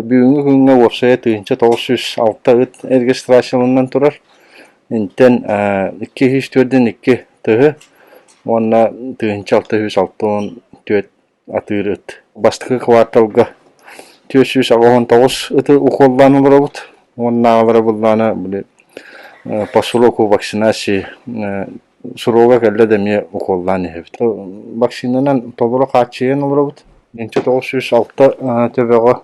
Бүгүҥҥү күҥҥэ уопсайа тыһыынча тоҕус сүүс алта ыт эргистрацияланан турар. Интэн икки сүүс түөртүн икки тыһы уонна тыһыынча алта сүүс алта уон түөрт атыыр ыт. Бастакы кварталга түөрт сүүс аҕа уон тоҕус ыты укуоллаан олоробут уонна аҕалара буллаана били посулуку вакцинации Суруга кэллэ да эмиэ укуоллаан иһэбит. Вакцинанан толору хааччыйан олоробут. Инчэ тоҕус сүүс алта төбөҕө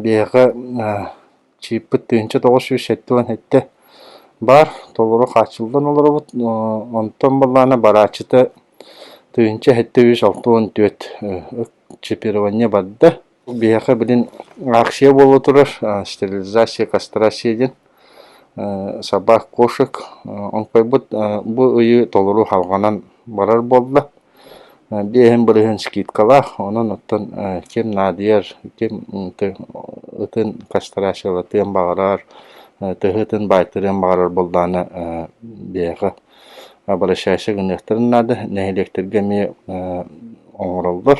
биһиэхэ чыыппыт тыһыынча тоҕус сүүс сэттэ уон сэттэ баар. Толору хааччыллан олоробут. Онтон баллаана барааччыта тыһыынча сэттэ сүүс алта уон түөрт чипирование барда. Биһиэхэ билин акция буола турар «Стерилизация костра» диэн сабаах кошек онкуйбут бу ыйы толору халҕанан барар буолла. Биэһин бырыһын скидкалаах, онон оттон ким наадыйар, ким ытын кастрациялатыан баҕарар, тыһы ытын баайтарыан баҕарар буоллаҕына биһиэхэ обращайся гыныахтарын наада. Нэһилиэктэргэ эмиэ оҥороллор.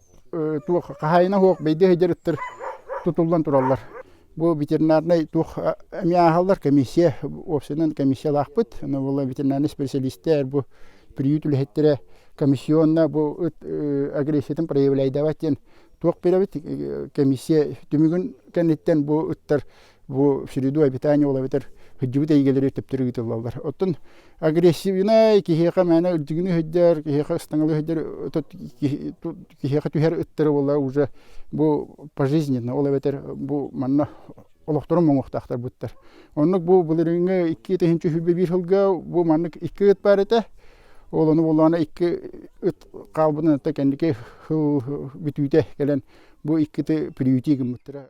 туох хаһаайына суох бэйдиэ сылдьарыттар тутуллан тураллар. Бу ветеринарнай туох эмиэ ааһаллар, комиссия, уопсайынан комиссиялаахпыт. Ону ветеринарнай специалистар, бу приют үлэһиттэрэ комиссионна бу ыт агрессиятын проявляйдабат диэн туох беребит комиссия түмүгүн кэнниттэн бу ыттар Бу в среду обитание ол эбэтэр хыддьыбыт эйгэлэри төптөр ыытыллаллар. Оттон агрессивнай киһиэхэ мээнэ үрдүгүнү өһүрдэр, киһиэхэ ыстаҥалы өһүрдэр, киһиэхэ түһэр ыттары буолла уже бу пожизненно, ол эбэтэр бу манна олохторун моҥуохтаахтар буттар. Оннук бу былырыыҥҥы икки тыһыынча үһүбэ биир сылга бу маннык икки ыт баар этэ. Ол ону буоллаҕына икки ыт хаалбытын кэнники сыл бүтүүтэ кэлэн бу икки ыты приюти гыммыттара.